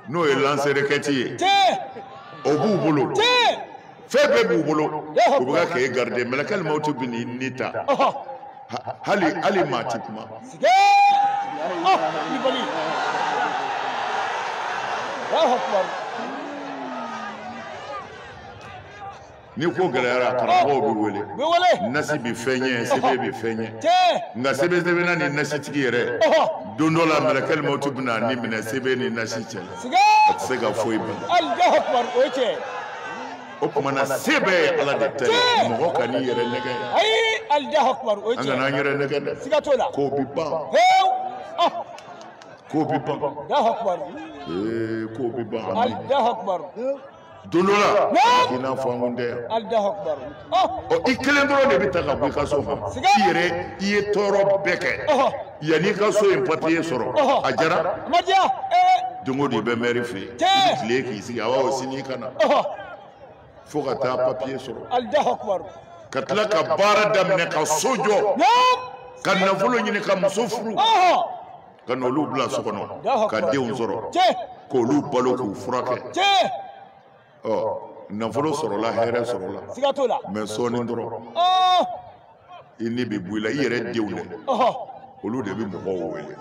n'o ye lanserekɛti ye o b'u bolo fɛn bɛɛ b'u bolo u bɛ ka k'e garide mɛlɛkɛli mawuti bɛ n'i ni ta hali maa ti kuma ni ko gɛlɛyara karamɔgɔw bɛ wele bɛ wele nasi bɛ fɛn ɲɛ sɛbɛn bɛ fɛn ɲɛ nka sɛbɛnsɛbɛnna ni nasitigi yɛrɛ don dɔ la mɛlɛkɛli mawuti bɛ n'a ni minɛ sɛbɛn ni nasi cɛ a tɛ se ka foyi ban o tuma na se bɛɛ ye ala de ta ye mɔgɔ kan'i yɛrɛ nɛgɛn an kana an yɛrɛ nɛgɛn dɛ ko bɛ ban ko bɛ ban ko bɛ ban don dɔ la a k'i n'a fɔ an kun tɛ yan ɔ i kelen dɔrɔn de bɛ ta ka bɔ i ka so ma i yɛrɛ i ye tɔɔrɔ bɛɛ kɛ yanni i ka so in papiye sɔrɔ a diyara don o don i bɛ mɛri fɛ yen i tile k'i sigi awɔ sini i ka na fo ka taa papiye sɔrɔ ka tila ka baara daminɛ ka so jɔ ka nafolo ɲini ka muso furu. ka n'olu bila so kɔnɔ ka denw sɔrɔ k'olu balo k'u furakɛ ɔ nafolo sɔrɔla hɛrɛ sɔrɔla mɛ sɔɔni dɔrɔn oh! i ni bɛ bɔ i la i yɛrɛ denw dɛ olu de bɛ mɔgɔw wele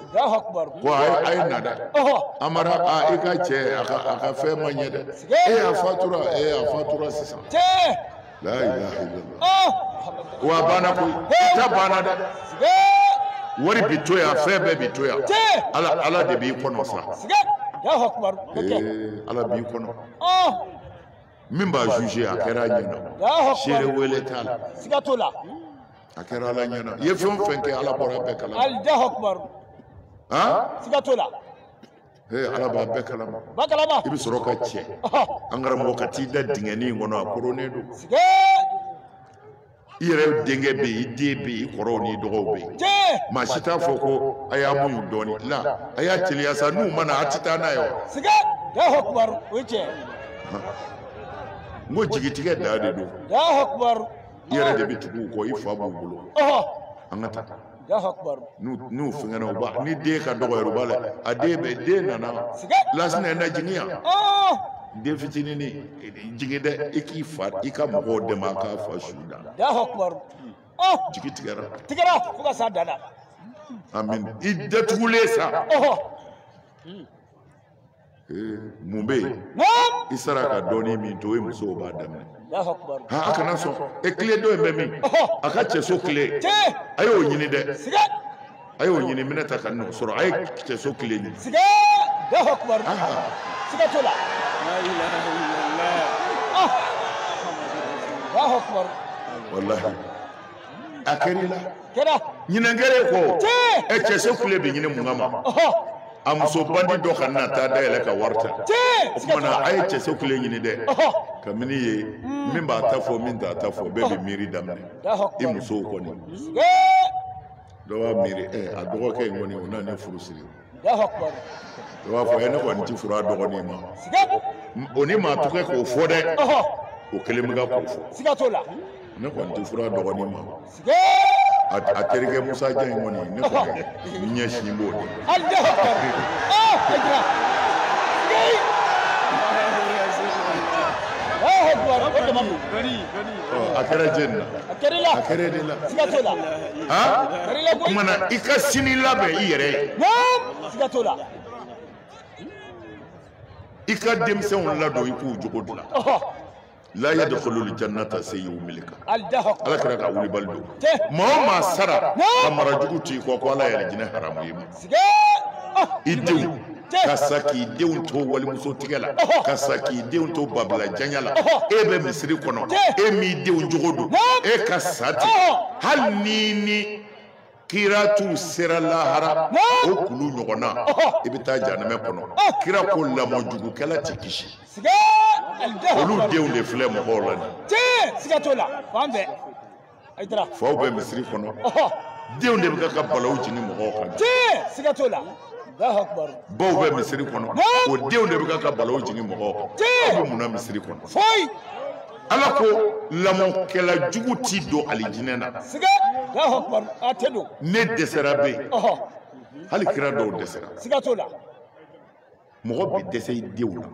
ko a ye na dɛ amara i ka cɛ a ka fɛn ma ɲɛ dɛ a fatura sisan la ilaha illallah oh wa a banna koyi i ta banna dɛ wari bi to yan fɛn bɛɛ bi to yan ala de b'i kɔnɔ sa siga allahu akbar Eh, ala b'i kɔnɔ oh min b'a juge a kɛra a ɲɛna seere wele t'a la siga t'o la a kɛra ala ɲɛna i ye fɛn o fɛn kɛ ala bɔra a bɛɛ kalama allahu akbar han siga t'o la Hey, ala b'a bɛɛ kalama b'a kalama i bɛ sɔrɔ ka cɛ ɔhɔ an karamɔgɔ ka t'i da dingɛnin in kɔnɔ a koronnen don siga i yɛrɛ denkɛ bɛ yen i den bɛ yen i kɔrɔw n'i dɔgɔw bɛ yen jee maa si t'a fɔ ko a y'a muɲu dɔɔni la a y'a teliya sa n'u ma na a tɛ taa n'a ye wa siga alahu akibaru o ye tiɲɛ n ko jigitigɛ da de don alahu akibaru i yɛrɛ de bɛ tugu u kɔ i fa b'u bolo ɔhɔ an ka taa n'u fɛngɛna u b'a ni den ka dɔgɔ yɛrɛ u b'a la a den bɛ den nana lasina na jigin yan oh! den fitinin jigin dɛ i k'i fa i ka mɔgɔw dɛmɛ a k'a fa su da oh! jigi tigɛra tigɛra fo ka s'a dan na amin i datugulen sa mun bɛ yen i sara ka dɔɔnin min to yen musow b'a daminɛ ha a kana sɔn e kile dɔ in bɛ min a ka cɛso kile a y'o ɲini dɛ a y'o ɲini minɛta kan'o sɔrɔ a ye cɛso kile ɲini. walahi a kɛra i la ɲinɛnkɛre ko ɛ cɛso kile bɛ ɲini mun kama a muso bandi dɔ kana taa da yɛlɛ ka wari ta o kuma na a ye cɛso kile ɲini dɛ kabini yen hmm. min b'a ta fɔ min t'a ta fɔ bɛɛ bɛ miiri daminɛ i musow kɔni dɔ b'a miiri ɛ a dɔgɔkɛ in kɔni o na ne furu siri dɔ b'a fɔ ɛ ne kɔni ti furu a dɔgɔnin ma o ni maa tɛ kɛ k'o fɔ dɛ o kelen bɛ ka k'o fɔ ne kɔni ti furu a dɔgɔnin ma a terikɛ musa jan in kɔni ne kɔni n ɲɛsin b'o de a kɛra jeni na a kɛra de la kuma na i ka sini labɛn i yɛrɛ ye i ka denmisɛnw ladon i k'u jogo dilan la yadkhulul jannata sayyi'ul milika aljaha ala kira kan wulibali don Te. maa o maa sara Na. ka mara jugu to i kɔ ko ala y'alijinɛ haramuya i ma siga ah i denw Te. ka sa k'i denw to walimuso tigɛ la Ɔhɔ. ka sa k'i denw to babila janya la Ɔhɔ. e bɛ misiri kɔnɔ Te. e m'i denw jogo don Naam. e ka sa ten Ɔhɔ. hali n'i ni kira tun sera lahara o kulu ɲɔgɔn na i bɛ taa janɛmɛ kɔnɔ kira ko lamɔjugukɛla tɛ kisi olu denw de filɛ mɔgɔw la nin faw bɛ misiri kɔnɔ denw de bɛ ka balawu jigin mɔgɔw kan baw bɛ misiri kɔnɔ o denw de bɛ ka balawu jigin mɔgɔw kan aw bɛ mun na misiri kɔnɔ ala ko lamɔkɛla jugu t'i don alijinɛ na ne dɛsɛra bɛ yen hali kira dɔw dɛsɛra mɔgɔ bɛ dɛsɛ i denw na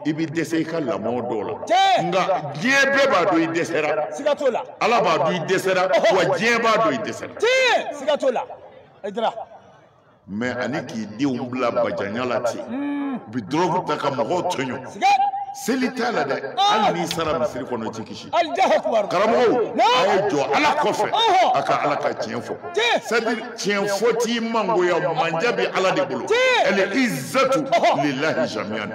i bɛ dɛsɛ i ka lamɔ dɔw la nka diɲɛ bɛɛ b'a dɔn i dɛsɛra ala b'a dɔn i dɛsɛra wa diɲɛ b'a dɔn i dɛsɛra mɛ ani k'i denw bila bajanya la ten u bɛ dɔrɔgu ta ka mɔgɔw tɔɲɔ seli t'a la dɛ hali n'i sara misiri kɔnɔ i ti kisi karamɔgɔw a ye jɔ ala kɔfɛ a ka ala ka tiɲɛ fɔ c'est-à-dire tiɲɛ fɔ t'i mangoya manja bɛ ala de bolo al izzatu lillahi jamian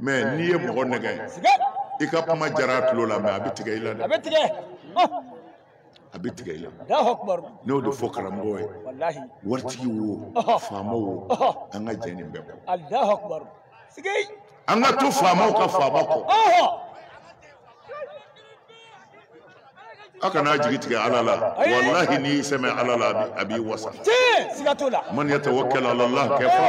mɛ n'i ye mɔgɔ nɛgɛn i ka kuma jara a tulo la mɛ a bɛ tigɛ i la dɛ a bɛ tigɛ a bɛ tigɛ i la n b'o de fɔ karamɔgɔw ye waritigi wo faama wo an ka jɛ nin bɛɛ kɔ an ka to faamaw ka faama kɔ aw kana jigi tigɛ ala la walahi n'i y'i sɛmɛ ala la a b'i wasa man yatawakkal ala allah kafa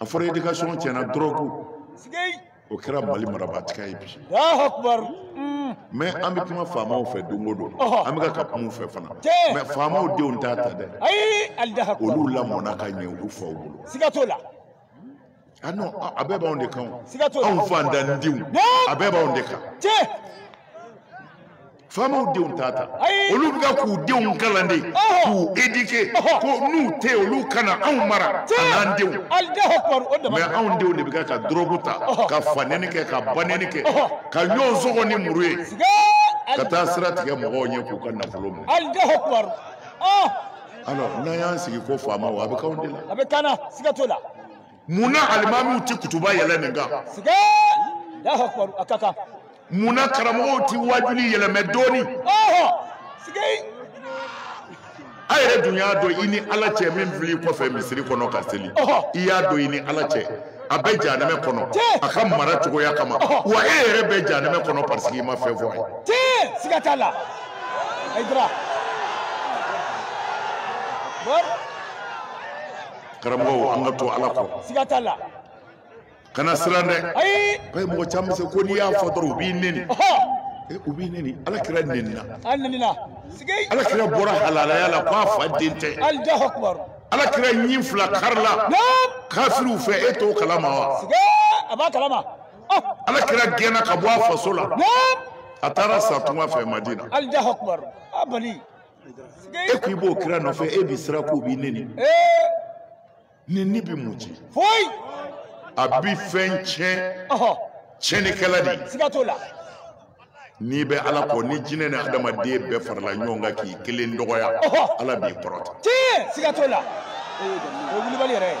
a fɔra éducation tiɲɛna dɔrɔgu o kɛra mali marabaatiga ye bi mɛ an bɛ kuma faamaw fɛ don o don an bɛ ka ka kuma u fɛ fana mɛ faamaw denw t'a ta dɛ olu lamɔna ka ɲɛ olu faw bolo siga t'o la ah non ah, a bɛɛ b'anw de kan anw fantandenw a bɛɛ b'anw de kan faamaw denw t'a ta olu bɛ ka k'u denw kalan de k'u éduquer ko n'u tɛ olu kana anw mara an'an denw mɛ anw denw de bɛ ka ka dɔrɔgu ta ka fanɛni kɛ ka banɛni kɛ ka ɲɔgɔn sɔgɔ ni muru ye ka taa sira tigɛ mɔgɔw ɲɛ k'u ka nafolo minɛ alors n'an y'an sigi ko faamaw a bɛ k'anw de la a bɛ k'an na siga t'o la mun na alimamiw tɛ kutuba yɛlɛ nin kan sike Allahu akbar a ka kan mun na karamɔgɔw tɛ waajuli yɛlɛmɛ dɔɔni ɔhɔ sike a yɛrɛ dun y'a dɔn i ni ala cɛ min fil'i kɔfɛ misiri kɔnɔ ka seli Ɔhɔ. i y'a dɔn i ni ala cɛ a bɛ janɛmɛ kɔnɔ Tiɲɛ. a ka mara cogoya kama Ɔhɔ. wa e yɛrɛ bɛ janɛmɛ kɔnɔ parce que i ma fɛn fɔ a ye tee siga t'a la ayidara karamɔgɔw an ka to ala kɔ siga t'a la kana siran dɛ ayi bɛɛ mɔgɔ caman bɛ se ko n'i y'a fɔ dɔrɔn u b'i neni eh, u b'i neni ala kira nenina a nenina sigi ala kira bɔra halalaya la ko a fa den tɛ Allahu akbar ala kira ɲin fila karila kafiriw fɛ e t'o kalama wa sigi a b'a kalama oh. ala kira gɛnna ka bɔ a faso la a taara sa tunga fɛ madina Allahu akbar a bali e ko i b'o kira nɔfɛ e bɛ siran k'u b'i neni neni bɛ mun tiɲɛ foyi a bɛ fɛn tiɲɛ tiɲɛnikɛla de ye siga t'o la n'i bɛ ala kɔ ni jinɛ ni adamaden bɛɛ farala ɲɔgɔn kan k'i kelen dɔgɔya ala b'i kɔrɔta tiɲɛ siga t'o la o ye wulibali yɛrɛ ye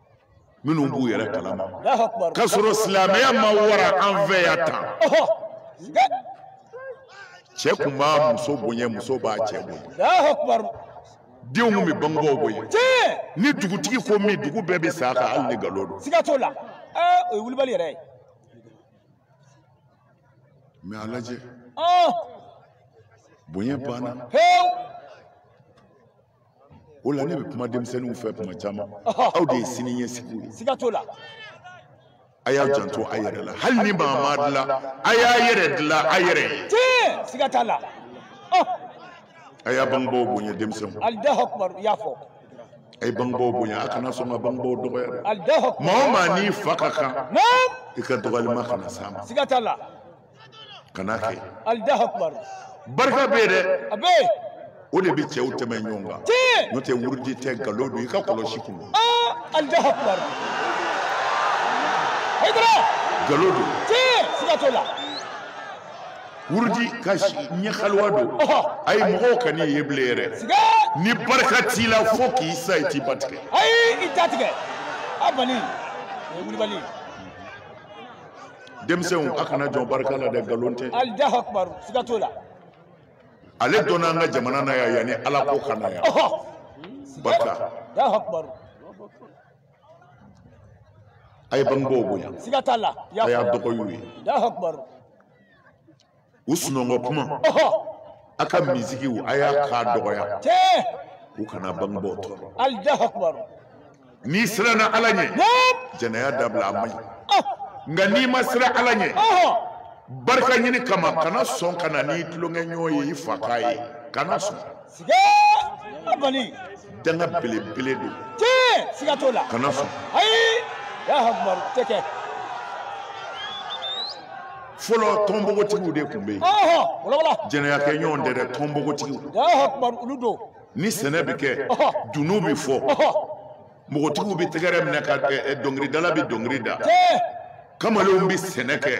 minnu b'u yɛrɛ kalama k'a sɔrɔ silamɛya ma wara an fɛ yan tan cɛ kun b'a muso bonya muso b'a cɛ bonya denw kun bɛ bangebaaw bonya ni dugutigi ko min dugu bɛɛ bɛ s'a kan hali ni nkalon don siga t'o la o ye wulibali yɛrɛ ye mɛ a lajɛ bonya banna o la ne bɛ kuma denmisɛnninw fɛ kuma caman aw de ye sini ɲɛsigiw ye siga t'o la a y'a janto a yɛrɛ la hali ni maa m'a dilan a y'a yɛrɛ dilan a yɛrɛ ye tiɲɛ siga t'a la a y'a bangebaaw bonya denmisɛnw allahu akbar i y'a fɔ a ye bangebaaw bonya a kana sɔn ka bangebaaw dɔgɔya dɛ allahu akbar maa o maa n'i fa ka kan naam i ka dɔgɔyalima kana s'a ma siga t'a la kana kɛ allahu akbar barika bɛ yen dɛ a bɛ yen o de bɛ cɛw tɛmɛ ɲɔgɔn kan tiɲɛ n'o tɛ wurudi tɛ nkalon don i ka kɔlɔsi kun don aa allahu akbar hayidara nkalon don tiɲɛ siga t'o la wurudi ka si ɲɛ haluwa don ɔhɔ a ye mɔgɔw kan'i ye bilen yɛrɛ siga ni barika t'i la fo k'i sa i tɛ ba tigɛ ayi i t'a tigɛ a bali o ye wulibali ye denmisɛnw a kana jɔn barika la dɛ nkalon tɛ allahu akbar siga t'o la ale donna an ka jamana na yan yanni ala ko ka na yan barika allahu akbar a ye bangebaaw bonya siga t'a la a y'a dɔgɔy'u ye allahu akbar u sunɔgɔ kuma a ka misikiw a y'a kan dɔgɔya u kana bangebaaw tɔɔrɔ n'i siranna ala ɲɛ jɛnɛya dabila a man ɲi nka n'i ma siran ala ɲɛ barika ɲini kama kana sɔn ka na n'i tulonkɛɲɔgɔn ye i fa k'a ye kana sɔn danga belebele don tiɲɛ siga t'o la kana fɔ ayi Allahu akbar tɛ kɛ fɔlɔ tɔnbogotigiw de tun bɛ yen jɛnɛyakɛ ɲɔgɔn tɛ dɛ tɔnbogotigiw ni sɛnɛ bɛ kɛ dunun bɛ fɔ npogotigiw bɛ tɛgɛrɛ minɛ ka dɔnkilidala bɛ dɔnkili da kamalenw bɛ sɛnɛ kɛ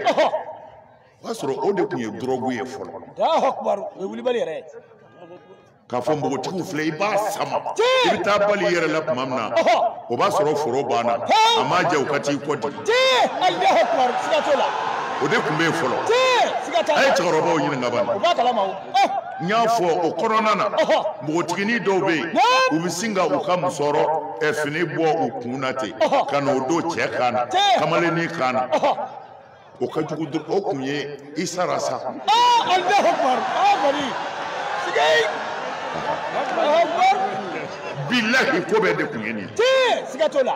o y'a sɔrɔ o de tun ye dɔrɔgu ye fɔlɔ Allahu akbar o ye wulibali yɛrɛ ye k'a fɔ npogotigiw filɛ i b'a sama i bɛ taa bali i yɛrɛ la tuma min na Ɔhɔ. o b'a sɔrɔ foro banna Hee. a m'a jɛ u ka t'i kɔ digi tee Allahu akbar siga t'o la o de tun bɛ yen fɔlɔ tee siga t'a la a ye cɛkɔrɔbaw ɲininka bani o b'a kalama o Eh, n y'a fɔ o kɔnɔna na Ɔhɔ. npogotiginin dɔw bɛ yen Naam. u bɛ sin ka u ka musɔrɔ ɛ, fini bɔ u kun na ten Ɔhɔ. ka n'o don cɛ kan na Tee. kamalennin kan na Ɔhɔ. o ka jugu dɔrɔn o kun ye i sara sa bilahi ko bɛɛ de kun ye nin ye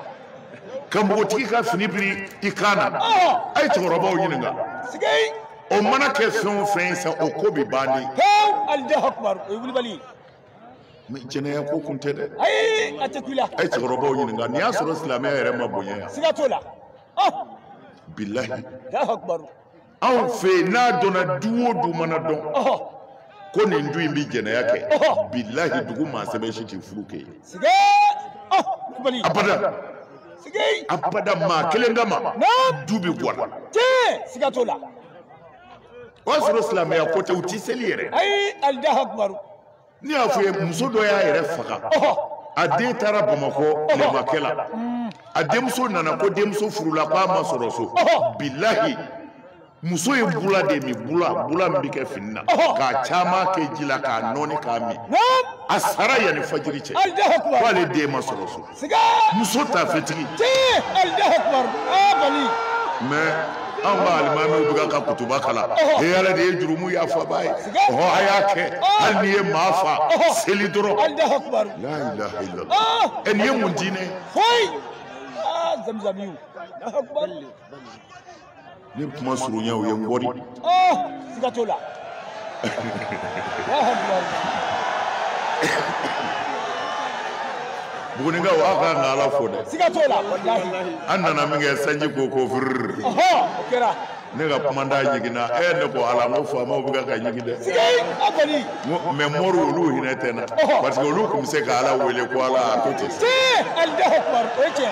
ka npogotigi ka fini biri i kan na a ye cɛkɔrɔbaw ɲininka o mana kɛ fɛn o fɛn ye sa o ko bi ban de mais jɛnɛya ko kun tɛ dɛ a ye cɛkɔrɔbaw ɲininka nin y'a sɔrɔ silamɛya yɛrɛ ma bonya yan bilahi anw fɛ yen n'a dɔnna du o du mana dɔn ko nin du in bɛ jɛnɛya kɛ bilahi dugu maa sɛbɛ si tɛ furu kɛ yen abada abada maa kelen kama du bɛ bɔ a la o y'a sɔrɔ silamɛya ko tɛ u tɛ seli yɛrɛ. ne y'a fɔ ye muso dɔ y'a yɛrɛ faga a den taara bamakɔ tilemakɛ la a denmuso nana ko denmuso furula k'a ma sɔrɔ so bilahi muso ye bula de min bula bula min bɛ kɛ fini na k'a caman kɛ ji la k'a nɔɔni k'a min a sara yanni fajiri cɛ k'ale den ma sɔrɔ so siga muso tafetigi tiɲɛ Allahu akbar aa bali mais an ka alimamiw bɛ ka kutuba kalan he ala de ye jurumu yafaba ye ɔhɔ a y'a kɛ hali n'i ye maa fa seli dɔrɔn Allahu akbar la ilaha illallah ɛ nin ye mun diinɛ ye foyi aa zamzamiw Allahu akbar ni kuma surunya aw ye n bɔri oh siga t'o la bugunikaw aw ka kan ka ala fo dɛ siga t'o la an nana minkɛ sanji ko ko firiri o kɛra ne ka kumandan ɲiginna e ne ko ala n ko faamaw bɛ ka ka ɲigin dɛ mais moriw olu hinɛ tɛ n na parce que olu tun bɛ se ka ala wele ko ala a to ten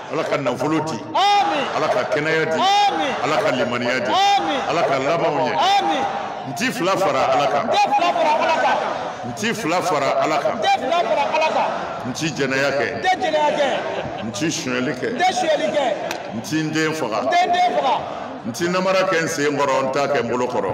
ala ka nafolo di ala ka kɛnɛya di ala ka limaniya di ala ka labanw ɲɛ n ti fila fara ala kan n ti fila fara ala kan n ti jɛnɛya kɛ n ti sonyɛli kɛ n ti n den faga n ti namara kɛ n sen kɔrɔ n t'a kɛ n bolo kɔrɔ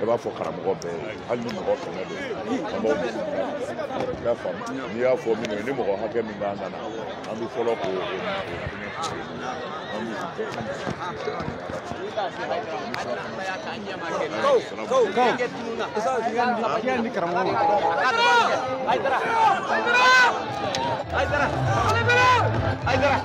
i b'a fɔ karamɔgɔ bɛɛ ye hali ni mɔgɔ kɛmɛ don an b'aw bisimila i y'a faamu n'i y'a fɔ minnu ye ni mɔgɔ hakɛ min b'an kana an bɛ fɔlɔ k'o o fɛngɛ an b'u bɛɛ Aydara! Aydara! Aydara!